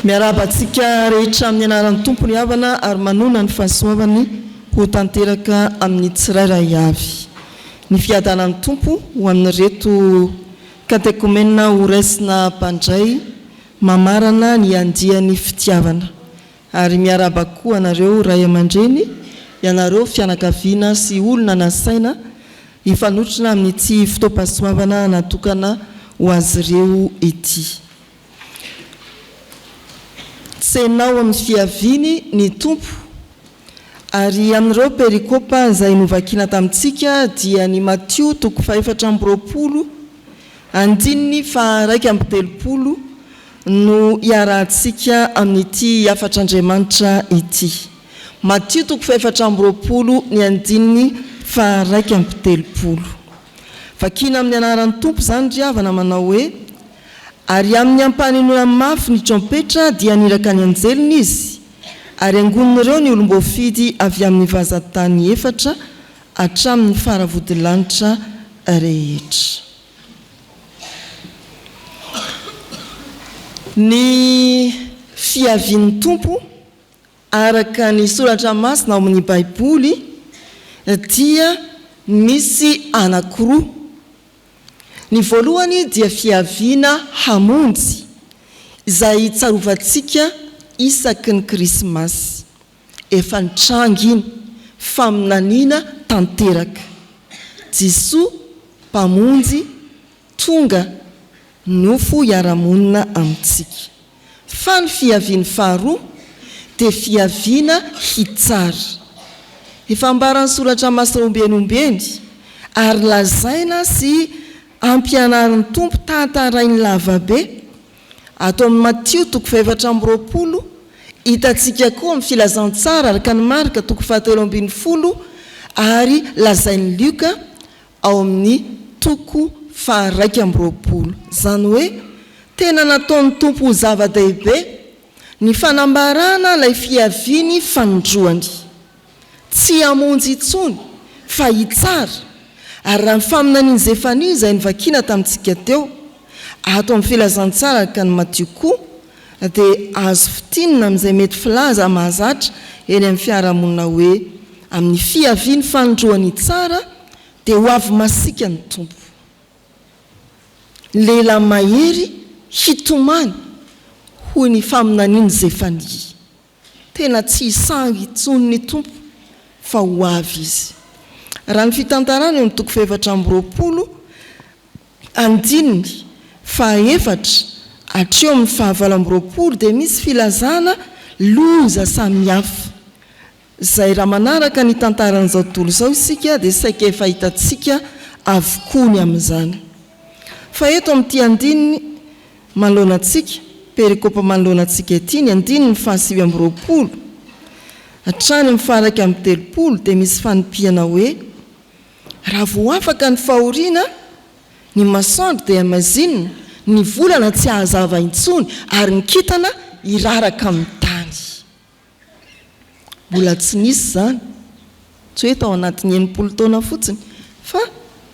Miarahaba antsika rehetra amin'ny anaran'ny Tompo ny havana ary manoana ny fahasoavany ho tanteraka amin'ny tsirairay avy. Ny fiadanan'ny Tompo ho amin'ireto katekomenina horaisina mpandray mamarana ny andiany fitiavana. Ary miarahaba koa anareo ray aman-dreny, ianareo fianakaviana sy olona nasaina hifanotrona amin'ity fotoam-pahasoavana natokana ho azy ireo ity. Tsenao amin'ny fiaviany ny Tompo. Ary amin'ireo perikopa izay novakina tamintsika dia ny Matio toko fahefatra amby roapolo Andininy faha iraika amby telopolo no iarahantsika amin'ity hafatr'Andriamanitra ity. Matio toko fahefatra amby roapolo ny andininy faha iraika amby telopolo. Vakina amin'ny anaran'ny Tompo izany ry havana manao hoe, Ary amin'ny ampanenoana mafy ny trompetra dia haniraka ny anjeliny izy, ary angonin'ireo ny olom-boafidy avy amin'ny vazan-tany efatra hatramin'ny faravodilanitra rehetra. Ny fiavian'ny Tompo, araka ny soratra masina ao amin'ny Baiboly, dia misy anankiroa. Ny voalohany dia fiaviana hamonjy, izay tsarovantsika isaky ny Krismasy. Efa nitranga iny, faminaniana tanteraka. Jisoa Mpamonjy tonga nofo hiara-monina amintsika. Fa ny fiaviany faharoa dia fiaviana hitsara. Efa ambaran'ny Soratra Masina ombieny ombieny ary lazaina sy ampianarin'ny Tompo tantarainy lavabe Ato amin'ny Matio toko fahefatra amby roapolo, hitantsika koa amin'ny Filazantsara araka an'i Marka toko fahatelo ambin'ny folo ary lazain'i Lioka ao amin'ny toko faharaika amby roapolo. Izany hoe tena nataon'ny Tompo ho zava-dehibe ny fanambarana ilay fiaviany fanindroany. Tsy hamonjy intsony, fa hitsara. Ary raha ny faminanian'i Zefania izay novakina tamintsika teo, ato amin'ny Filazantsara araka an'i Matio koa, dia azo fintinina amin'izay mety filaza mahazatra eny amin'ny fiarahamonina hoe, Amin'ny fiaviany fanindroany hitsara, dia ho avy masiaka ny Tompo. Lehilahy mahery hitomany, hoy ny faminanian'i Zefania. Tena tsy hisangy intsony ny Tompo fa ho avy Izy. Raha ny fitantarana eo amin'ny toko fahefatra amby roapolo, andininy fahaefatra hatreo amin'ny fahavalo amby roapolo dia misy filazana loza samihafa, izay raha manaraka ny tantaran'izao tontolo izao isika dia saika efa hitantsika avokoa ny amin'izany. Fa eto amin'ity andininy manoloana antsika, perikopa manoloana antsika ity, ny andininy fahasivy amby roapolo hatrany amin'ny faharaika amby telopolo, dia misy fanipihana hoe, Raha vao afaka ny fahoriana, ny masoandro dia maizina, ny volana tsy hahazava intsony, ary ny kintana hiraraka amin'ny tany. Mbola tsy nisy izany, tsy hoe tao anatin'ny enimpolo taona fotsiny, fa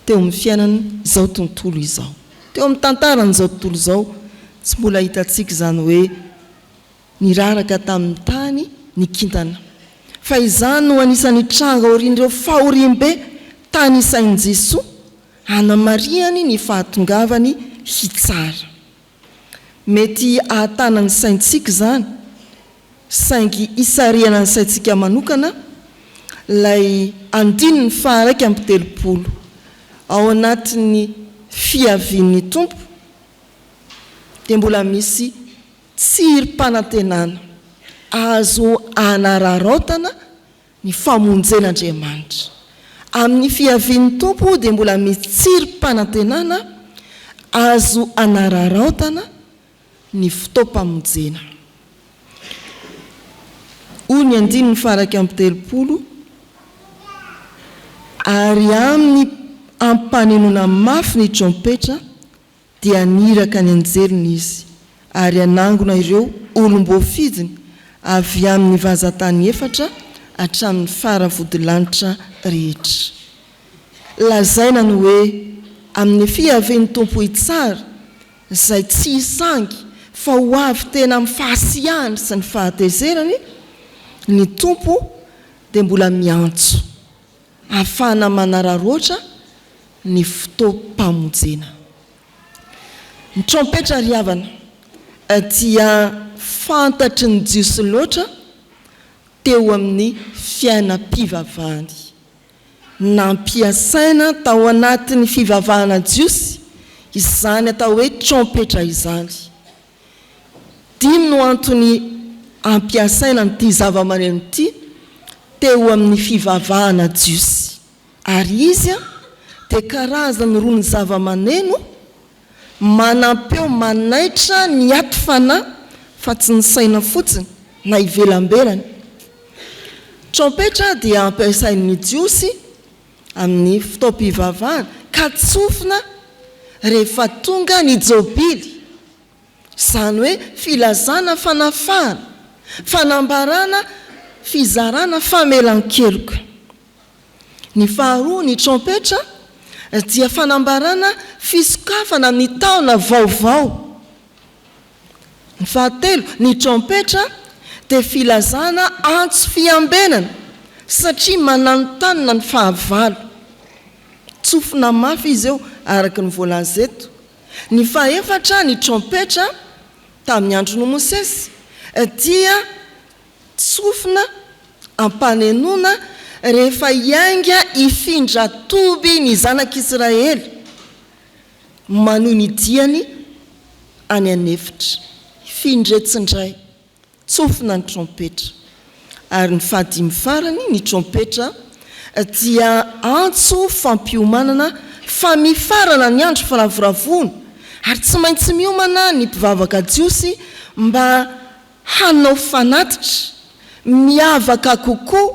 teo amin'ny fiainan'izao tontolo izao, teo amin'ny tantaran'izao tontolo izao. Tsy mbola hitantsika izany hoe niraraka tamin'ny tany ny kintana. Fa izany no anisan'ny tranga aorian'ireo fahoriambe tany isain'i Jesoa, hanamarihany ny fahatongavany hitsara. Mety hahatana ny saintsika izany, saingy hisarihana ny saintsika manokana ilay andininy faha-iraika amby telopolo ao anatin'ny Fiavian'ny Tompo, dia mbola misy tsirim-panantenana azo anararaotana Ny famonjen'Andriamanitra. Amin'ny fiavian'ny Tompo dia mbola misy tsirim-panantenana azo anararaotana ny fotoam-pamonjena. Hoy ny andininy faha-iraika amby telopolo, Ary amin'ny ampanenoana mafy ny trompetra Dia haniraka ny anjeliny Izy, ary hanangona ireo olom-boafidiny avy amin'ny vazan-tany efatra hatramin'ny fara vodilanitra rehetra. Lazaina ny hoe, Amin'ny Nefia Yaveh ny Tompo Hitsara, izay tsy hisangy fa ho avy tena amin'ny fahasiahany sy ny fahatezerany, ny Tompo dia mbola miantso. Ahafahana manararaotra ny fotoam-pamojena. Ny trompetra ry havana dia fantatry ny Jiosy loatra teo amin'ny fiainam-pivavahany. Nampiasaina tao anatin'ny fivavahana jiosy izany atao hoe trompetra izany. Dimy no antony ampiasaina an'ity zavamaneno ity teo amin'ny fivavahana jiosy, ary izy dia karazany roa ny zavamaneno manampeo manaitra ny aty fanahy fa tsy ny saina fotsiny na ivelambelany. Trompetra dia ampiasain'ny Jiosy Amin'ny fotoam-pivavahana, ka tsofina rehefa tonga ny Jobily, izany hoe filazana fanafahana, fanambarana, fizarana, famelan-keloka. Ny faharoa, ny trompetra, dia fanambarana fisokafana amin'ny taona vaovao. Ny fahatelo, ny trompetra dia filazana antso fiambenana satria mananontanona ny fahavalo. Tsofina mafy izy io araka ny voalaza eto. Ny fahefatra, ny trompetra tamin'ny andron'i Mosesy dia tsofina am-panenona rehefa hiainga hifindra toby ny zanak'Israely. Manohy ny diany any an'efitra. Hifindra etsy indray. Tsofina ny trompetra. Ary ny fahadimy farany, ny trompetra dia antso fampiomanana fa mifarana ny andro firavoravoana ary tsy maintsy miomana ny mpivavaka jiosy mba hanao fanatitra miavaka kokoa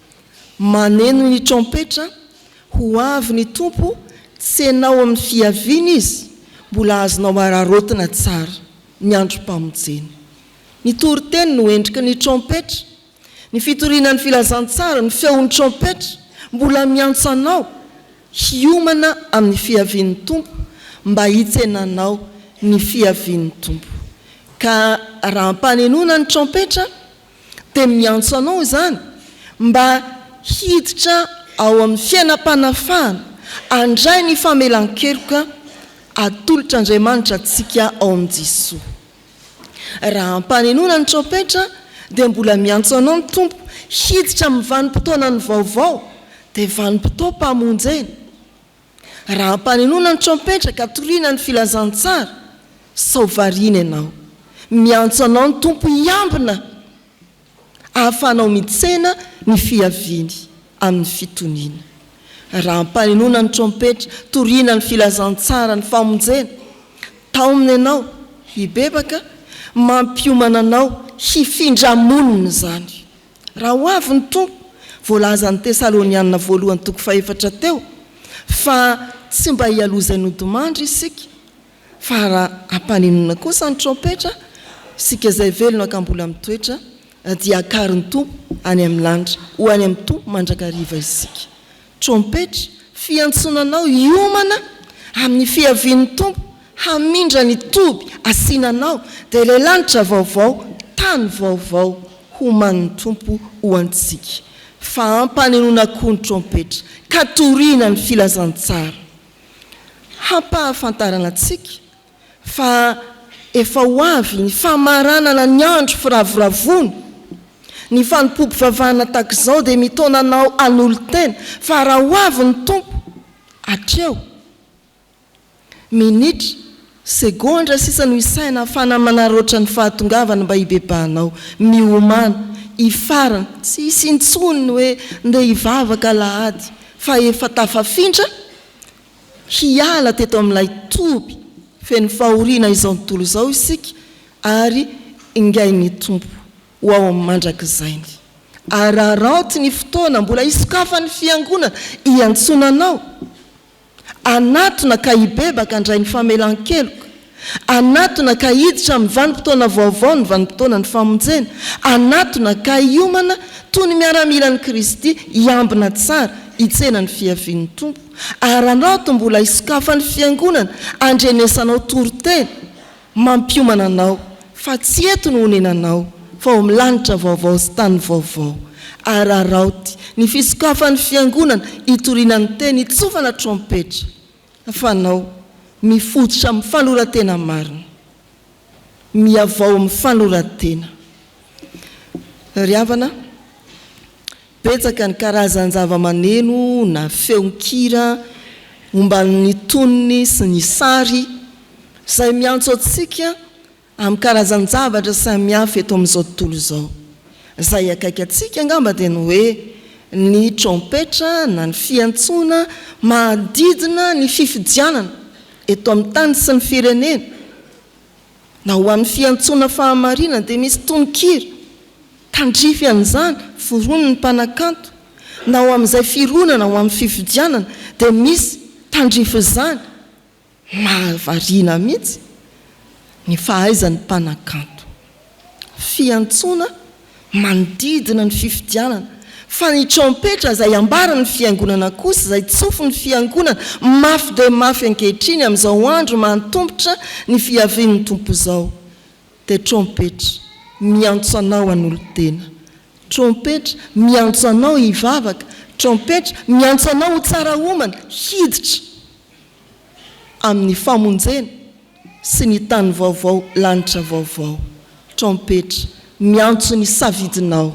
Maneno ny trompetra, ho avy ny Tompo, tsy ianao amin'ny fiaviany Izy, mbola azonao araraotina tsara ny androm-pamonjena. Ny toriteny no endriky ny trompetra, ny fitoriana ny filazantsara, ny feon'ny trompetra, mbola miantso anao hiomana amin'ny fiavian'ny Tompo mba hitsenanao ny fiavian'ny Tompo. Ka raha ampanenoina ny trompetra dia miantso anao izany mba hiditra ao amin'ny fiainam-panafahana, handray ny famelan-keloka atolotr'Andriamanitra antsika ao amin'i Jesoa. Raha ampanenoana ny trompetra dia mbola miantso anao ny Tompo hiditra amin'ny vanim-potoanany vaovao, dia vanim-potoam-pamonjena. Raha ampanenoina ny trompetra ka toriana ny filazantsara, sao variana ianao. Miantso anao ny Tompo hiambina ahafahanao mitsena ny fiaviany amin'ny fitoniana. Raha ampanenoina ny trompetra, toriana ny filazantsara, ny famonjena, taomina ianao hibebaka, mampiomana anao hifindra monina izany. Raha ho avy ny Tompo, voalazan'ny Tesalonianina voalohany toko fahefatra teo fa tsy mba hialoha izay nodimandry isika fa hampanenona kosa ny trompetra, isika izay velona ka mbola mitoetra dia hakarin'ny Tompo any amin'ny lanitra, ho any amin'ny Tompo mandrakariva isika. Trompetra, fiantsoana anao hiomana amin'ny fiavian'ny Tompo, hamindra ny toby asiana anao, dia ilay lanitra vaovao, tany vaovao homanin'ny Tompo ho antsika. Fahampanenoana koa ny trompetra, ka toriana ny filazantsara hampahafantarana antsika fa efa ho avy ny famaranana ny andro firavoravoana, ny fanompoam-pivavahana tahak'izao dia mitaona anao hanolo-tena fa raha ho avy ny Tompo hatreo, minitra, segondra sisa no isaina hafana manaraotra ny fahatongavany mba hibebahanao, miomana, hifarana, tsy hisy intsony ny hoe ndeha hivavaka alahady fa efa tafafindra, Hiala teto amin'ilay toby feno fahoriana izao tontolo izao isika ary ingain'ny Tompo ho ao amin'ny mandrakizainy. Araraoty ny fotoana mbola hisokafan'ny Fiangonana iantsoana anao hanatona ka hibebaka handray ny famelan-keloka. Hanatona ka hiditra amin'ny vanim-potoana vaovao ny vanim-potoanan'ny famonjena. Hanatona ka hiomana toy ny miaramilan'i Kristy hiambina tsara hitsena ny fiavian'ny Tompo. Ary hanaoto mbola hisokafan'ny Fiangonana handrenesanao toriteny mampiomana anao fa tsy eto no honenanao fa ao amin'ny lanitra vaovao sy tany vaovao. Ary haraoty ny fisokafan'ny Fiangonana hitoriana ny teny hitsofana trompetra. Fanao, Mifototra amin'ny fanoran-tena marina. Mihavao amin'ny fanoran-tena. Ry havana, betsaka ny karazan-javamaneno na feon-kira omban'ny tonony sy ny sary izay miantso antsika Amin'ny karazan-javatra samihafa eto amin'izao tontolo izao, izay akaiky antsika angamba dia ny hoe ny trompetra na ny fiantsoana manodidina ny fifidianana eto amin'ny tany sy ny firenena, na ho an'ny fiantsoana fahamarinana dia misy tononkira tandrify an'izany foronin'ny mpanakanto, na ho amin'izay fironana ho amin'ny fifidianana dia misy tandrify izany. Mahavariana mihitsy ny fahaizan'ny mpanakanto. Fiantsoana manodidina ny fifidianana fa ny trompetra izay ambaran'ny fiangonana kosa izay tsofin'ny fiangonana mafy dia mafy ankehitriny amin'izao andro mahatombotra ny fiavian'ny Tompo izao dia trompetra miantso anao hanolo-tena, trompetra miantso anao hivavaka, trompetra miantso anao ho tsara homana, hiditra. amin'ny famonjena sy ny tany vaovao lanitra vaovao. Trompetra miantso ny safidinao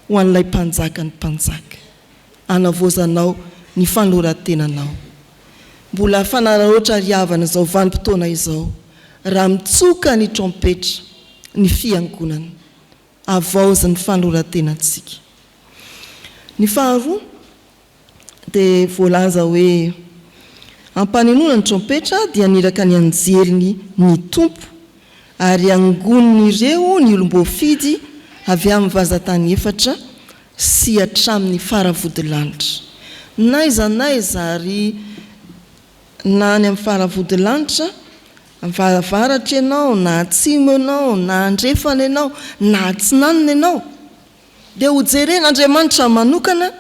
ho an'ilay Mpanjaka ny mpanjaka. Anavaozanao ny fanoran-tenanao. Mbola fanaraotra ry havana izao vanim-potoana izao raha mitsoka ny trompetra ny Fiangonana. Avaozy ny fanoran-tenantsika. Ny faharoa. dia voalaza hoe, Ampanenoina ny trompetra dia haniraka ny anjeliny ny Tompo, ary hangonin'ireo ny olom-boafidy avy amin'ny vazan-tany efatra sy hatramin'ny faravodilanitra. N'aiza n'aiza ary na any amin'ny faravodilanitra, fa avaratra ianao, na atsimo ianao, na andrefana ianao, na atsinanana ianao, Dia ho jeren' Andriamanitra manokana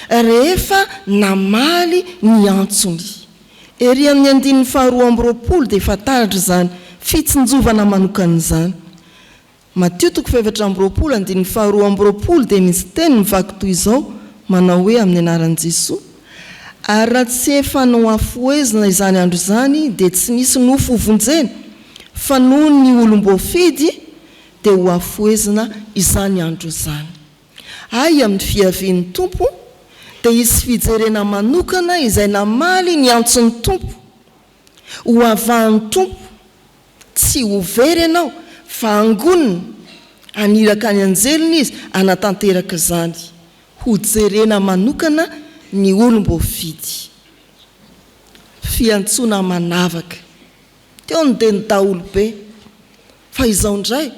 rehefa namaly ny antsony. Ery amin' ny andininy faharoa amby roapolo dia efa taratra izany fitsinjovana manokana izany. Matio toko fahefatra amby roapolo andininy faharoa amby roapolo dia misy teny mivaky toy izao manao hoe amin' ny anaran' Jesoa, ary raha tsy efa nohafohezina izany andro izany dia tsy misy nofo hovonjena, fa noho ny olom-boafidy dia hohafohezina izany andro izany. Ay amin'ny fiavian'ny Tompo dia hisy fijerena manokana izay namaly ny antson'ny Tompo. Hohavahan'ny Tompo, tsy ho very ianao fa hangonina, haniraka ny anjeliny Izy hanatanteraka izany. Hojerena manokana ny olom-boafidy. Fiantsoana manavaka. Teo ny dia ny daholobe. Fa izao indray,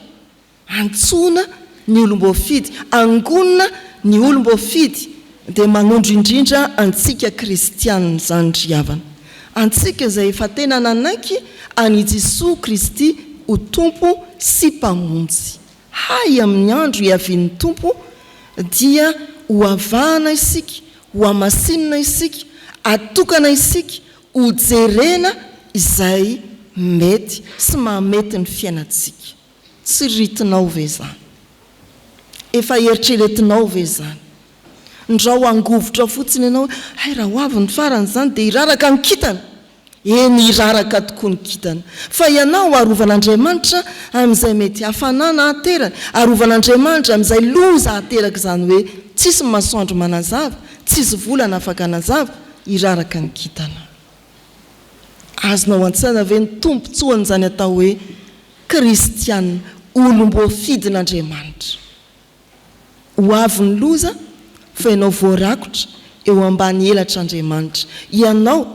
antsoina ny olom-boafidy, angonina ny olom-boafidy, dia manondro indrindra antsika kristiana izany ry havana. Antsika izay efa tena nanaiky an' i Jesoa Kristy ho Tompo sy Mpamonjy. Hay amin' ny andro hiavian' ny Tompo dia ho avahana isika, ho hamasinina isika, hatokana isika Hojerena izay mety sy mahamety ny fiainantsika. Tsy ritinao ve izany? Efa eritreretinao ve izany? Ndrao hangovitra fotsiny ianao hoe, hay raha ho avy ny farany izany dia hiraraka ny kintana! Eny, hiraraka tokoa ny kintana. Fa ianao, arovan'Andriamanitra amin'izay mety hafanana hahateraka, arovan'Andriamanitra amin'izay loza hahateraka izany hoe, tsisy masoandro manazava, tsisy volana afaka hanazava, Iraraka ny kintana. Azonao antsaina ve ny tombontsoan'izany atao hoe kristiana, olom-boafidin'Andriamanitra? Ho avy ny loza fa ianao voarakotra eo ambany elatr'Andriamanitra, ianao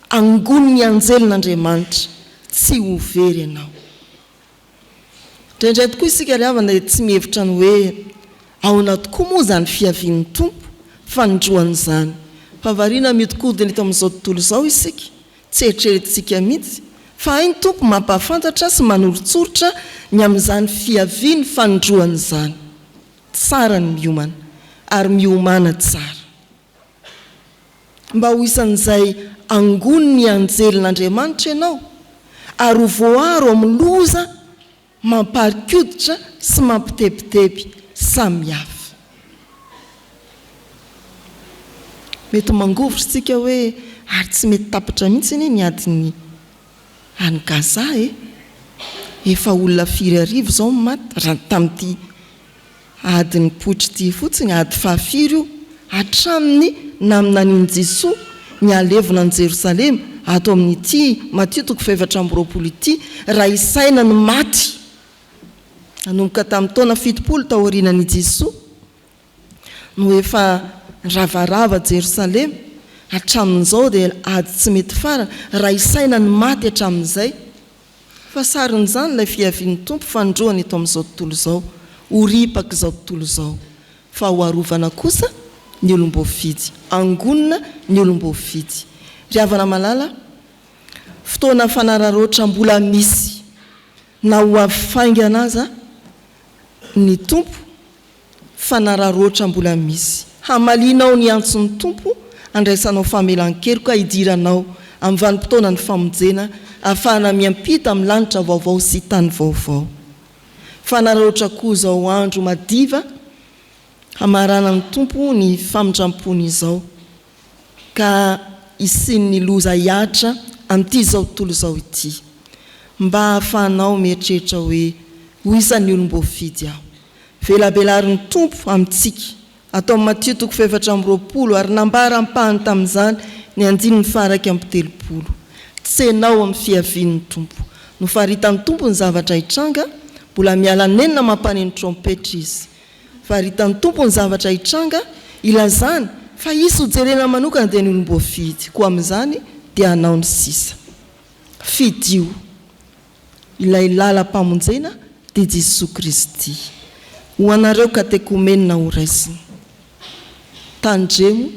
angonin'ny anjelin'Andriamanitra, tsy ho very ianao. Indraindray tokoa isika ry havana dia tsy mihevitra ny hoe ahoana tokoa moa izany fiavian'ny Tompo fanindroan'izany. Fa variana mihodinkodina eto amin'izao tontolo izao isika, tsy eritreretintsika mihitsy fa hay ny Tompo mampahafantatra sy manoritsoritra ny amin'izany fiaviany fanindroany izany. Tsara ny miomana ary miomana tsara. mba ho isan'izay angonin'ny anjelin'Andriamanitra ianao, ary ho voaaro amin'ny loza mampari-koditra sy mampitebiteby samihafa. Mety mangovitra isika hoe, Ary tsy mety tapitra mihitsy anie ny adin'ny any Gaza e! Efa olona firy arivo izao no maty, raha ny tamin'ity Ady nipoitra ity fotsiny ady fahafiry io hatramin'ny naminanian'i Jesoa ny halevina an'i Jerosalema ato amin'ity Matio toko fahefatra amby roapolo ity raha isaina ny maty nanomboka tamin'ny taona fitopolo taorianan'i Jesoa no efa niravarava Jerosalema hatramin'izao dia ady tsy mety farany raha isaina ny maty hatramin'izay Fa sarin'izany ilay fiavian'ny Tompo fanindroany eto amin'izao tontolo izao, ho ripak'izao tontolo izao, fa ho arovana kosa ny olom-boafidy, angonina ny olom-boafidy. Ry havana malala, fotoana fanararaotra mbola misy, na ho avy faingana aza ny Tompo, fanararaotra mbola misy. Hamalianao ny antson'ny Tompo handraisanao famelan-keloka hidiranao amin'ny vanim-potoanan'ny famonjena ahafahana miampita amin'ny lanitra vaovao sy tany vaovao. Fanararaotra koa izao andro madiva hamaranan'ny Tompo ny famindrampony izao ka hisian'ny loza hihatra amin'ity izao tontolo izao ity. Mba ahafahanao mieritreritra hoe ho isan'ny olom-boafidy aho. Velabelarin'ny Tompo amintsika. Ato amin'ny Matio toko fahefatra amby roapolo, ary nambara ampahany tamin'izany ny andininy faha-iraika amby telopolo. Tsenao amin'ny fiavian'ny Tompo. Nofaritan'ny Tompo ny zavatra hitranga, mbola miala nenina mampàny ny trompetra Izy. Faritan'ny Tompo ny zavatra hitranga, ilazany fa hisy hojerena manokana dia ny olom-boafidy, koa amin'izany dia hanao ny sisa. Fidio. Ilay lalam-pamonjena dia Jesoa Kristy. Ho anareo katekomenina ho raisiny. Tandremo,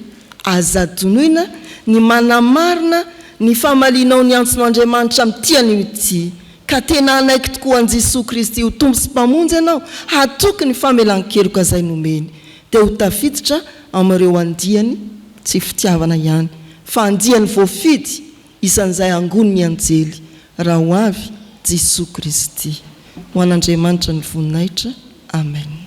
aza adinoina ny manamarina ny famalianao ny antson' Andriamanitra amin'ity anio ity, ka tena hanaiky tokoa an'i Jesoa Kristy ho Tompo sy Mpamonjy anao, hatoky ny famelan-keloka izay nomeny, dia ho tafiditra amin'ireo andiany, tsy fitiavana ihany, fa andiany voafidy, Isan'izay angon' ny anjely raha ho avy Jisoa Kristy. Ho an' Andriamanitra ny voninahitra. Amen.